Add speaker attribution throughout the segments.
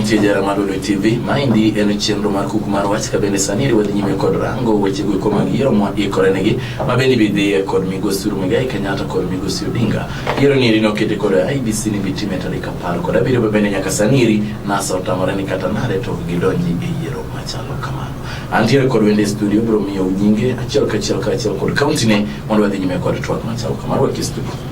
Speaker 1: Nitie jara mar Lulu TV, maendi en chenro mar kuku mar wach ka bende sani riwadhi nyime kod rango weche go koma yiero mwa ikore negi ma bende bidhiye kod migosi Rumigai Kenyatta kod migosi Odinga. Yiero ni rino kete kod IBC ni bitime tarik apar kod abiriyo ma bende nyaka sani ri NASA otamore ni kata nare to gidonji e yiero machalo kamano. Antiere kod wende studio bro miyo nyinge achiel kachiel kachiel kod kaunti ne mondo wadhi nyime kod twak machalo kamano e studio.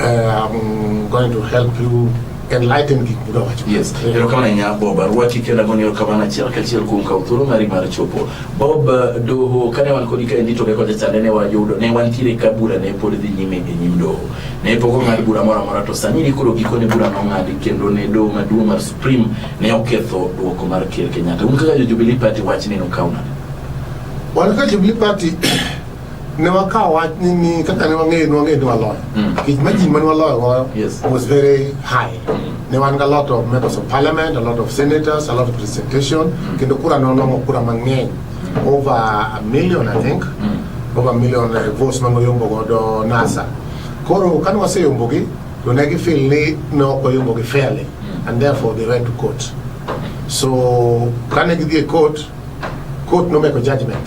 Speaker 2: I'm going to help you enlighten gik mudwa wacho. Yes. Erokamano
Speaker 1: ahinya Bob Arwaki kendo agoni erokamano achiel kachiel kuom kawo thuolo mari mar chopo. Bob Doho kane wan kodi kaendi to kaka jachande ne wayudo ne wantiere ka bura ne pod dhi nyime e nyim doho. Ne pok ong'ad bura moro amora to sani ni koro gikone bura nong'adi kendo ne doho maduong' mar Supreme ne oketho duoko mar Ker Kenyatta. Un kaka jo Jubilee Party wach ni nokaw nade? Wan
Speaker 2: kaka Jubilee Party ne wakawo wach ni ni kaka ne wang'eyo ne wang'eyo ni waloyo Mm. kech majin mane waloyo goyo Yes. was very high ne wan ga lot of members of parliament a lot of senators a lot of representation kendo kura ne onong'o kura mang'eny over a million i think over a million eh, votes mane oyombo godo nasa koro kane waseyombogi to ne gifil ni ne ok oyombogi fairly and therefore they went to court so kane gidhi e court court nomeko judgment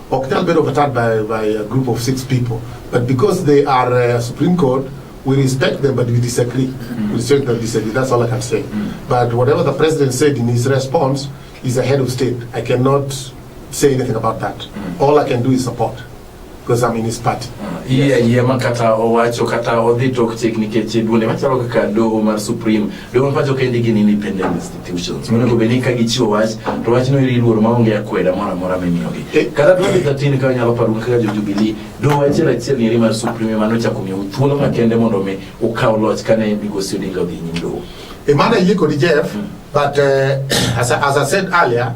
Speaker 2: ok nyal bedo overturned by, by a group of six people but because they are uh, Supreme Court we respect them but we disagree we respect them disagree that's all I can say but whatever the president said in his response is a head of state I cannot say anything about that all I can do is support because I'm in his party Iya iya makata
Speaker 1: owacho kata odhi tok chik nikech duonde machalo kaka doho mar Supreme Domo pacho kendi gin independent institutions. Mondo go beni ka gichiwo wach, to wach no iri luor maonge akweda moro amora mimiyogi. Eh. Kata 2013 ka nyalo paro kaka jo Jubilee, do wach achiel ni mar Supreme mano chako miyo thuolo makende mondo mi ukaw loch kane migosi Odinga odhi nyim doho. Emana yie kodi
Speaker 2: Jeff, hmm. but uh, as, as I said earlier,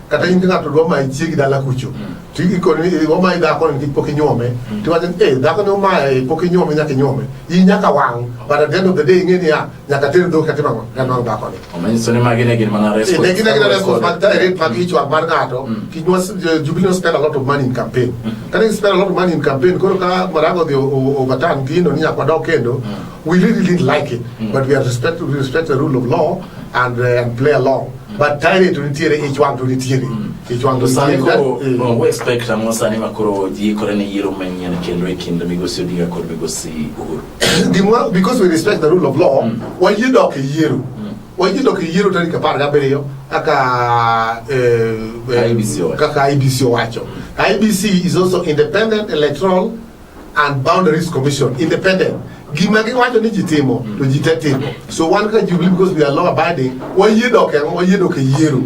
Speaker 2: kata in ng'ato dwa mayi chiegi dala kucho mm. to ikoni eh, omayi dhako nikech pok inyuome mm. tiwacho ni eh dhako ne omaye eh, pok inyuome nyaka inyuome in nyaka wang' but at the end of the day ing'e niya nyaka ter dhok katim ang'o kanwang' dhako ni omanyiso ni magi ne
Speaker 1: gin mana eh, ne gin gin response mag
Speaker 2: direct mag mm. ichwang' mar ng'ato kinywa jubilee spend a lot of money in campaign kata in spend a lot of money in campaign koro ka marago dhi overturn gino ni nyaka wadok kendo we really didn't like it but we are respect we respect the rule of law and, uh, and play along but tayari to nitiere ich wang to nitiere mm. ich wang to sani ko eh. no we
Speaker 1: expect ang'o sani ma koro ji ikore ne yiero manyien kendo e kind migosi Odinga kod migosi Uhuru gimwa because we respect the
Speaker 2: rule of law mm. wayie dok e yiero mm. wayie dok e yiero tarik apar gabiriyo kaka eh, eh, kaka IBC owacho IBC is also independent electoral and Boundaries Commission independent gima giwacho ni ji timo to ji te timo so wan kaka Jubilee because we are law abiding wayie dok e wayie dok e yiero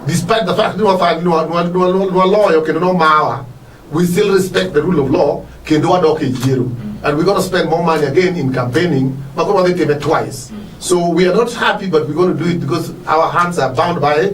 Speaker 2: despite the fact ni wafa- ni wa- ni wa- ni wa- ni waloyo kendo nomawa we still respect the rule of law kendo wadok e yiero and we gonna spend more money again in campaigning ma koro wadhi time twice so we are not happy but we gonna do it because our hands are bound by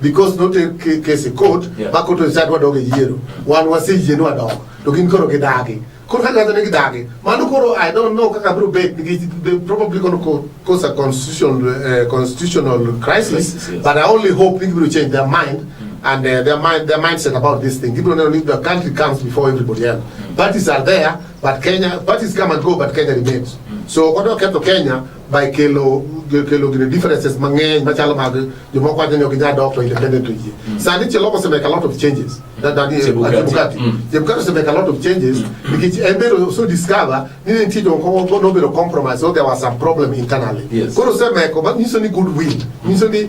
Speaker 2: because not a case in court yeah. ma court decide what dog yiero wan waseyie ni wadok to gin koro gidagi koro kaka ne gidagi mano koro i don't know kaka biro bet they probably going to cause a constitutional uh, constitutional crisis, crisis yes. but i only hope they will change their mind mm. and uh, their mind their mindset about this thing people know if the country comes before everybody else mm. parties are there but kenya parties come and go but kenya remains mm. so odo keto kenya by kelo kelo gine differences mang'eny machalo mag jomoko wacho ni ok inyal dok to independent to yie mm. sani cheloko osemake a lot of changes that that is chebukati chebukati osemake a lot of changes mm. nikech en be so discover ni ne nitie jomoko nobedo compromise so there was some problem internally yes. koro osemeko nyiso ni good will nyiso ni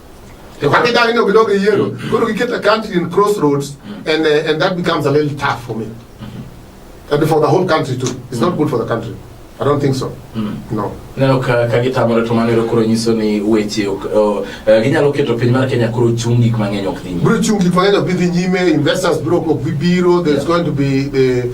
Speaker 2: The one thing I know we don't get yellow. Go to get a country in crossroads, and uh, and that becomes a little tough for me, and for the whole country too. It's not good for the country. I don't think so. Mm. No. Neno ka ka
Speaker 1: gitamore to manero koro nyiso ni weche ok oh, eh, ginyalo keto piny mar Kenya koro chung gik mang'eny ok dhi. Bro chung gik mang'eny ok dhi
Speaker 2: nyime, investors bro ok bi biro, there's yeah. going to be the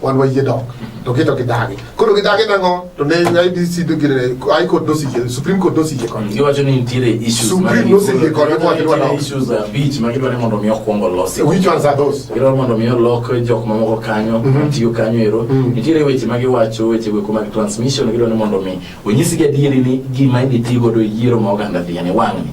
Speaker 2: wan wayie dok to gito gidagi koro gidagi nango to ne IBC do gire ai kod dosi ye Supreme Court dosi ye kon giwacho ni nitiere issues
Speaker 1: Supreme no sigi kod ko
Speaker 2: wadwa nitiere dok issues abich ma gidwa
Speaker 1: ni mondo mi okwong olosi which ones are those gidwa
Speaker 2: mondo mi olok
Speaker 1: jok mamoko kanyo Mhm. tiyo kanyo ero Mhm. nitiere weche ma giwacho weche go mag transmission gidwa ni mondo mi onyisgi adieri ni gima idhi ti godo e yiero ma oganda dhi yani wang'ni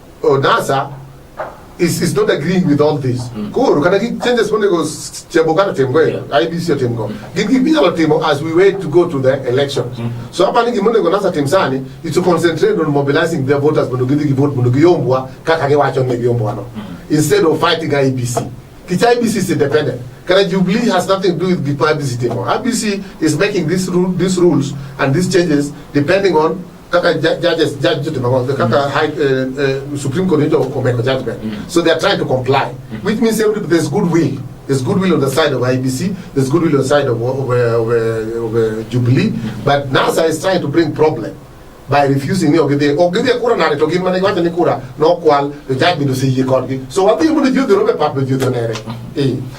Speaker 2: Oh, NASA is, is not agreeing with all this. Mm. Koro kata gi changes monego chebo kata tim go IBC otim go. Gin gi binyalo timo as we wait to go to the elections. Mm. So hapa ni gimonego NASA tim sani is to concentrate on mobilizing their voters mondo gidhi gi vote mondo giyombwa kaka giwacho ni giyombwa no. Mm. Instead of fighting IBC. Kicha IBC is independent. Kara Jubilee has nothing to do with the IBC table. IBC is making these, ru these rules and these changes depending on kaka judges judge to Baba, the kaka high, uh, uh, Supreme Court into Komeko judgment. Mm. So they are trying to comply, mm. which means every, there's goodwill. There's goodwill on the side of IBC, there's goodwill on the side of, of, of, of, of Jubilee, but NASA is trying to bring problem by refusing ni ogidhi ogidhi kura nade to gin mana iwacho ni kura nokwal to judgment oseyie kodgi so wadhi mondo ji odhi robe pap to ji odhi onere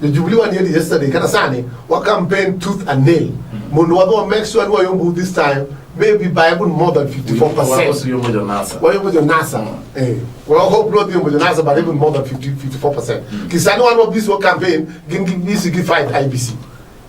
Speaker 2: The Jubilee one here yesterday, kata sani, wa campaign tooth and nail. Mondo wadwa make sure ni wayombo this time, maybe by even more than 54%. Wayombo jo NASA. Wayombo jo NASA. Mm. Eh. Well, I hope not yombo jo NASA, but even more than 50, 54%. Mm. Kisani wan wabisi wa campaign, gin gibisi gi fight IBC.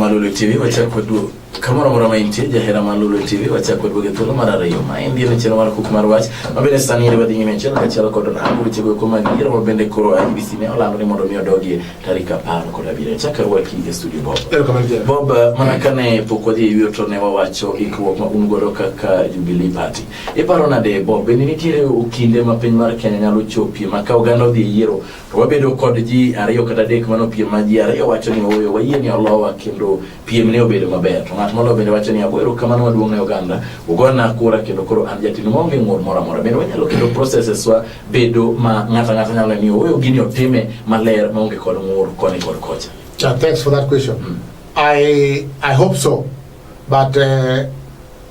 Speaker 1: Malulu TV wachako duo kamoro amora ma intie jahera Malulu TV wachako duoge thuolo mar ariyo ma en dieno chenro mar kuk mar wach mabende sani yere badhi nyime achiel kachiel kod rango weche goeko mag yiero mabende koro IBC ne olando ni mondo mi odogie tarik apar kod abiriyo chakre waki e studio Bob Bob eh, mana kane pok wadhi e yueyo to ne wawacho ikruok ma un godo kaka Jubilee Party iparo nade Bob bende nitiere kinde ma piny mar Kenya nyalo chopie ma ka oganda odhi e yiero To wabedo kod ji ariyo kata adek mano piem ma ji ariyo wacho ni ooyo wayie ni olowa kendo piem ne obedo maber. To ng'at moloyo bende wacho ni agoero kamano maduong' ne oganda, ugona kura kendo koro an jatindu maonge ng'ur moro amora. Bende wanyalo keto processes wa bedo ma ng'ato ang'ata nyalo ni ooyo gini otime maler maonge kod ng'ur koni kod kocha. Uh, thanks for that question.
Speaker 2: Mm. I, I hope so. But uh,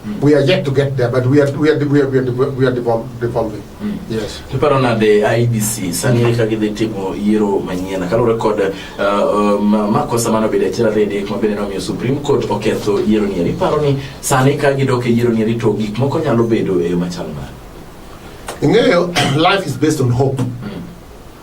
Speaker 2: Mm. We are yet to get there, but we are we are we are, we are, we are devolving. Mm. Yes. Kiparo na de
Speaker 1: IBC sani mm. ka gidhi timo yiero manyien kalure kod uh, uh, makosa mano bede achiel ariyo adek ma bende nomiyo Supreme Court oketho yiero nieri. Iparo ni sani ka gidok e yiero nieri to gik moko nyalo bedo e yo machal nade? Ing'eyo
Speaker 2: life is based on hope. Mm.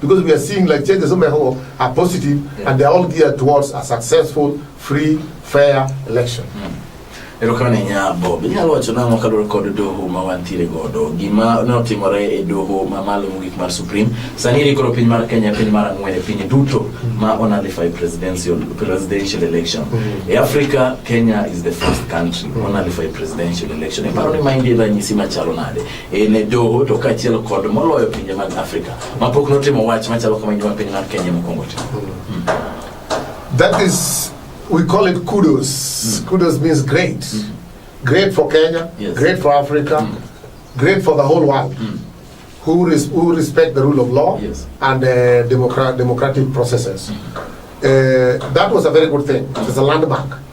Speaker 2: Because we are seeing like changes some people are positive yeah. and they are all geared towards a successful, free, fair election. Mm. erokamano
Speaker 1: nya bob inyalo wacho nang'o kaluwore kod doho ma wantiere godo gima notimore e doho mamalo mogik mar supreme sani ri koro piny mar kenya piny mar ang'wen e piny duto ma onalify presidential, presidential election mm-hmm. e africa kenya is the first country mm-hmm. onalify presidential election iparo ni maendi ranyisi machalo nade e ne doho to kaachiel kod moloyo pinje mag Afrika mapok notimo wach machalo kama gima piny mar Kenya mokwongo timo. Hmm. That
Speaker 2: is we call it kudos. Mm. Kudos means great. Mm. Great for Kenya, yes. great for Africa, mm. great for the whole world. Mm. Who, res who respect the rule of law yes. and uh, democrat democratic processes. Mm. Uh, that was a very good thing. It was a landmark.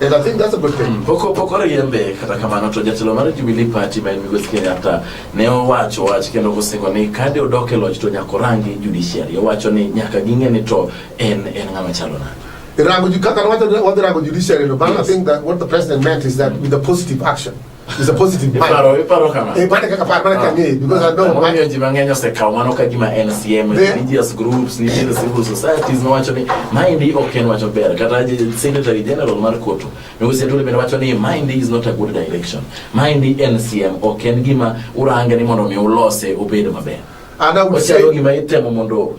Speaker 2: And I think that's a good thing. Mm, poko poko riembe
Speaker 1: kata kamano to jatelo mar Jubilee Party ma en Migosi Kenyatta ne owacho wach kendo osingo ni kade odok e loch to nyaka orangi judiciary. Owacho ni nyaka ging'e ni to en en ng'ama chalo nade. Rango kaka wacho wadhi
Speaker 2: rango judiciary no, but yes. I think that what the president meant is that with a positive action. It's a positive mind. Iparo, iparo kama. Eh, pande kaka paro, pande ah. kama because I know. Mami oji mang'enyo se kawo mano ka gima NCM,
Speaker 1: religious groups, ni the civil societies no wacho ni mind ok en wacho ber. Kata Secretary General mar Kotu, Migosi Atwoli bende wacho ni mind is not a good direction. Mind NCM ok en gima urange ni mondo mi ulose obed maber. Ana uche
Speaker 2: gima itemo mondo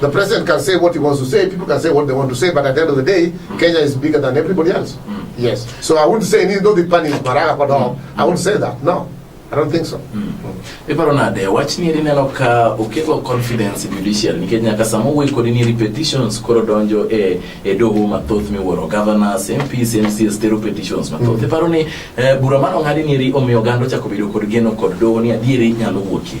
Speaker 2: The president can say what he wants to say, people can say what they want to say, but at the end of the day, Kenya is bigger than everybody else. Mm. Yes. So I wouldn't say, no, the pan is Maraga, but mm. I wouldn't say that. No. I don't think so. Mm. Iparo nade
Speaker 1: wach ni eri neno ka okelo confidence in judicial nikech nyaka sama owuoyi kodi ni repetitions koro donjo e e doho mathoth miwuoro governors, MPs, MCs tero petitions mathoth. Mm. Iparo ni eh, bura mano ng'adi ni eri omiyo oganda ochako bedo kod geno kod doho ni adieri nyalo wuokie.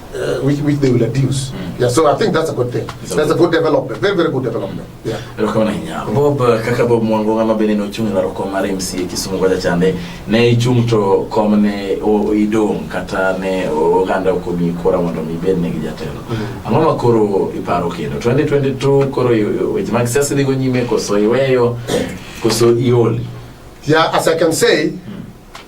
Speaker 2: uh, which, which they will reduce. Mm. Yeah, so I think that's a good thing. It's that's a good development. Very, very good development. Yeah. Rukabana hinya. Bob
Speaker 1: kaka Bob mwango ngama bene no chung la roko mare MC kisumu kwa chande. Ne chung to komne o idong kata ne o ganda ko mi kora mondo mi bene gi jatelo. Mm. Angoma ma koro iparo kendo 2022 koro weche mag siasa dhigo nyime koso iweyo koso ioli. Yeah, as I
Speaker 2: can say mm.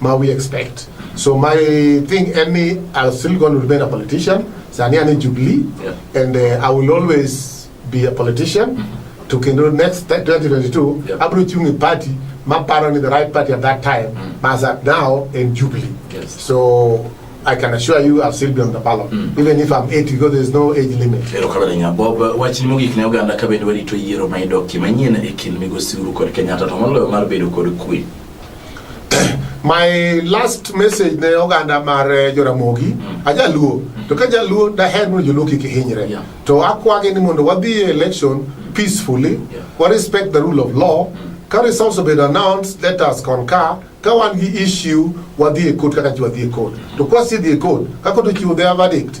Speaker 2: ma we expect. So my thing, any, I'm still going to remain a politician. Sani ani Jubilee, yeah. and uh, I will always be a politician. Mm -hmm. To Kendo next 2022, yeah. Abro Chungi party, my parent in the right party at that time, mm -hmm. as at now in Jubilee. Yes. So I can assure you I'll still be on the ballot mm. even if I'm 80 because there's no age limit. Lero kabere nya Bob
Speaker 1: wachni mo gik ne oganda kabende wali to yiero ma idoki manyien e kin migosi uru kod Kenyatta to moloyo mar bedo kod kwe. my
Speaker 2: last message ne oganda mar eh, joramogi mm. ajaluo mm. to ka jaluo daher mondo joluo kik hinyre yeah. to akwagi ni mondo wadhi e election mm. peacefully yeah. wa respect the rule of law mm. ka results obed announced let us concur ka wan gi issue wadhi e court kaka ji wadhi e court to kwasidhi e court ka court ochiwo their verdict